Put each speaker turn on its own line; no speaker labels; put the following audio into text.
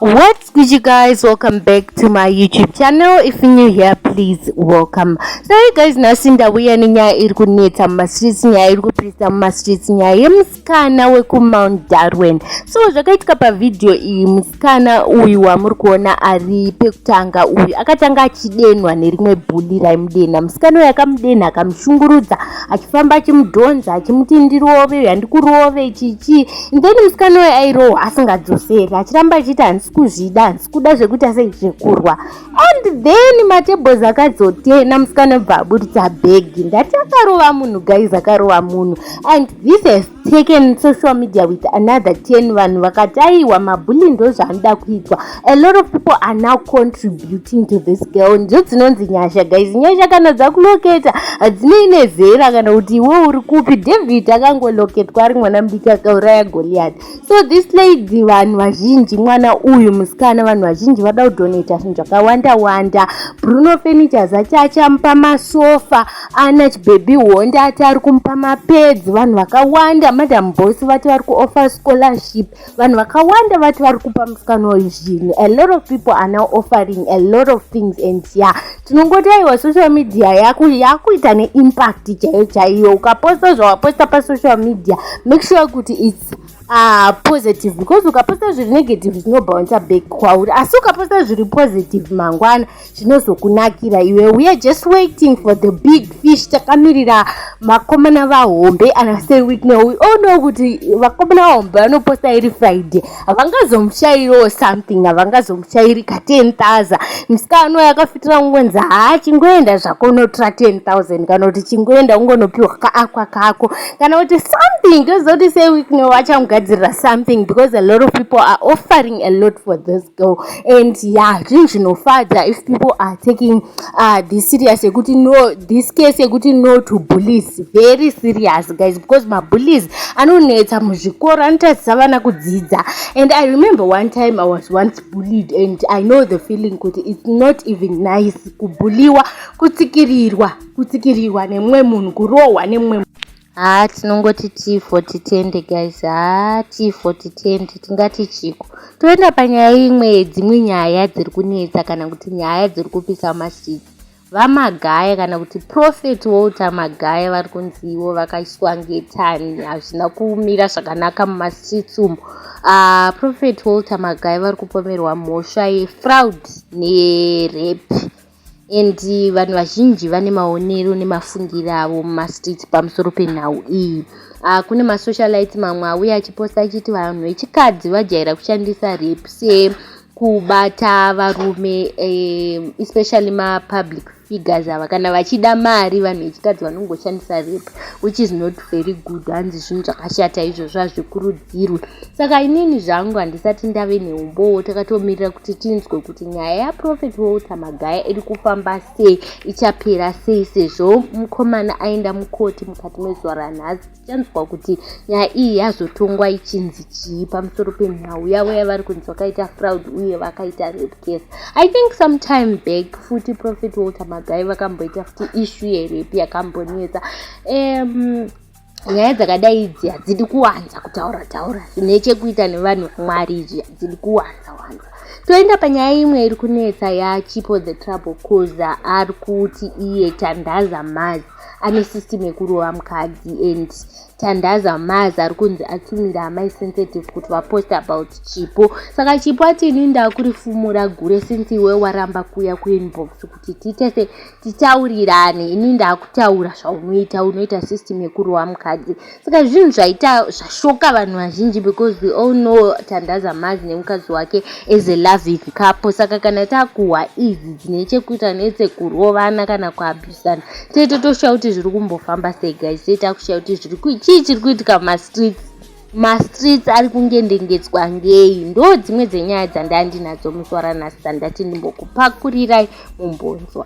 What's good you guys welcome back to my youtube channel if you're new here please welcome so you guys nhasi ndauya nenyaya iri kunetsa mumastreets nyaya iri kupisa mumastreets nyaya yemusikana wekumount darwin so zvakaitika pavhidhiyo iyi musikana uyu wamuri kuona ari pekutanga uyu akatanga achidenwa nerimwe bhuli raimudenha musikana uyu akamudenha akamushungurudza achifamba achimudhonza achimuti ndirove uyu handikurovei chichii then musikana uyo airohwa asingadzoseri achiramba achiti handisi kuzvida handisi kuda zvekuti asei zvekurwa and then matebos akadzotena musikana bva aburitsa bhegi ndati akarova munhu guys akarova munhu and this has taken social media with another ten vanhu vakataiwa mabhuli ndozvaanoda kuitwa a lot of people are now contributing to this girl ndidzo dzinonzi nyasha guys nyasha kana dzakuloketa hadzinei nezera kana kuti iwe uri kupi david akangoloketwa ari mwana mudiki akauraya goliat so this lady vanhu vazhinji mwana uyu musikana vanhu vazhinji vada kudonata zvinhu zvakawanda wanda bruno furnitures achi achamupa masofa ana chibhebhi honda ati ari kumupa mapedzi vanhu vakawanda madam bosi vati vari kuoffer scholarship vanhu vakawanda vati vari kupa musikana uyu zvinhu a lot of people are now offering a lot of things and ya tinongoti aiwa social media yako yakuita neimpact chaiyo chaiyo ukaposta zvawaposta pasocial media make sure kuti its uh, positive because ukaposta zviri negative zvinobhounsa back kwauri asi ukaposta zviri positive mangwana zvinozokunakira iwe we are just waiting for the big fish takamirira vakomana vahombe ana sir witney we all know kuti vakomana vahombe vanoposta iri friday havangazomushairiwo something havangazomushairi ka 10000 musika ano yakafitira kungonzi haa chingoenda zvako unotora 10000 kana kuti chingoenda ungonopiwa kaakwa kako kana kuti something tozoti sir witney vachamugadzirira something because a lot of people are offering a lot for this girl and yeah zvinhu zvinofadza if people are taking uh, this serious yekuti no this case yekuti no to bullies very serious guys because mabullies anonetsa muzvikoro anotadzisa vana kudzidza and i remember one time i was once bullied and i know the feeling kuti it's not even nice kubulliwa kutsikirirwa kutsikirirwa nemumwe munhu kurohwa nemumwe Haa tinongoti tii for titende guys haa tii for titende tingati chiko toenda panyaya imwe yedzimwe nyaya dziri kunetsa kana kuti nyaya dziri kupisa masiki vamagaya kana kuti prophet walter magaya vari kunzi ivo vakaiswa ngetani hazvina kumira zvakanaka mumastreets umo uh, prophet walter magaya vari kupomerwa mhosva yefraud nerape and vanhu vazhinji vane maonero nemafungiro avo mumastreets pamusoro penhau iyi uh, kune masocialite mamwe auye achiposta achiti vanhu vechikadzi vajaira kushandisa rep se kubata varume um, especially mapublic figures ava kana vachida mari vanhu vechikadzi vanongoshandisa rep which is not very good hanzi zvinhu zvakashata izvozvo hazvikuru hadzigadzirwe saka inini zvangu handisati ndave neumbowo takatomirira kuti tinzwe kuti nyaya yaprofet walter magaya iri kufamba sei ichapera sei sezvo mukomana aenda mukoti mukati mezuva ranhasi tichanzwa kuti nyaya iyi yazotongwa ichinzi chii pamusoro penhau yavo yavari kunzi vakaita fraud uye vakaita rape case i think sometime back futi profet walter magaya vakamboita futi issue yerape yakambonetsa um, nyaya dzakadai idzi hadzidi kuwanza kutaura taura zvine chekuita nevanhu vamwari izvi hadzidi kuwanza wanza toenda panyaya imwe iri kunetsa yachipo the trouble coza ari kuti iye tandaza maz ane system yekurova mukadzi and tandaza maz ari kunzi atumira amai sensitive kuti vapost about chipo saka chipo ati ini ndakurifumura gure since iwe waramba kuya kuinbox kuti tiite se titaurirane ini ndakutaura zvaunoita unoita system yekurowa mukadzi saka zvinhu zvaita zvashoka vanhu vazhinji because we all know tandaza mazi nemukadzi wake as a loving couple saka kana takuhwa idzi dzine chekuita nedzekurovana kana kuabusana tete toshaya kuti zviri kumbofamba sei guys tete akushaya kuti zviri chii chiri kuitika mumastreets mastreets ari kungendengedzwa ngei ndo dzimwe dzenyaya dzandandinadzo musi waranhasi dzandati ndimbokupakurirai mumbonzwa